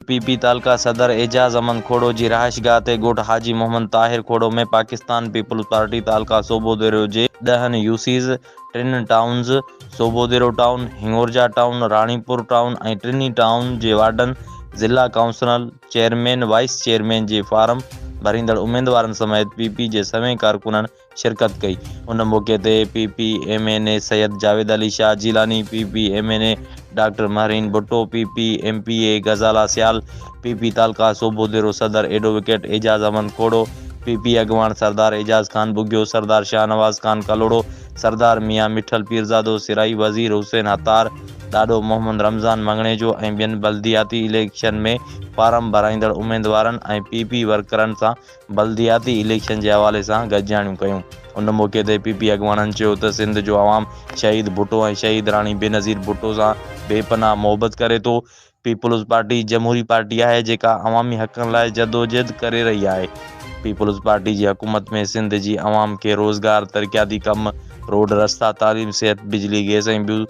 P P تعلقه صدر اعجاز احمد کوڙو جي رهائشگاهه تي ڳوٺ حاجي محمد طاهر کوڙو ۾ پاڪستان پيپلز پارٽي تعلقه صوبو ديرو جي ڏهن يو سيز، ٽن towns, Sobho Dero town, Hingorja town, Ranipur town ۽ ٽنهي ٽائون جي وارڊن، ضلع ڪائونسلن، چيئرمين، وائيس چيئرمين جي فارم ڀريندڙ اميدوارن سميت پي پي جي سوين ڪارڪنن شرڪت ڪئي. ان موقعي تي P P M N A Syed Javed Ali Shah Jilani, P P M N A doctor Mehreen Bhutto, P P M P A Ghazala Sial, P P تعلقه صوبو ديرو صدر advocate Ejaz Ahmed Khoro, P P اڳواڻ سردار اعجاز خان ٻگهيو، سردار شاهنواز خان ڪلهوڙو، سردار ميان مٺل پيرزادو سرائي، وزير حسين هتار، ڏاڏو محمد رمضان مڱڻيجو ۽ ٻين بلدياتي اليڪشن ۾ فارم ڀرائيندڙ اميدوارن ۽ پي پي ورڪرن سان بلدياتي اليڪشن جي حوالي سان گڏجاڻيون ڪيون. ان موقعي تي پي پي اڳواڻن چيو ته سنڌ جو عوام شهيد ڀٽو ۽ شهيد راڻي بينظير ڀٽو سان بي پناهه محبت ڪري ٿو، پيپلز پارٽي جمهوري پارٽي آهي جيڪا عوامي حقن لاء جدوجهد ڪري رهي آهي، پيپلز پارٽي جي حڪومت ۾ سنڌ جي عوام کي روزگار، ترقياتي ڪم، روڊ رستا، تعليم، صحت، بجلي، گئس ۽ ٻيون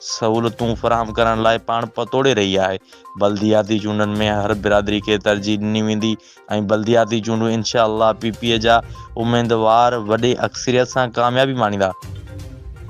سهولتون فراهم ڪرڻ لاء پاڻ پتوڙي رهي آهي، بلدياتي چونڊن ۾ هر برادري کي ترجيح ڏني ويندي ۽ بلدياتي چونڊون انشاء الله پي پي جا اميدوار وڏي اڪثريت سان ڪاميابي ماڻيندا.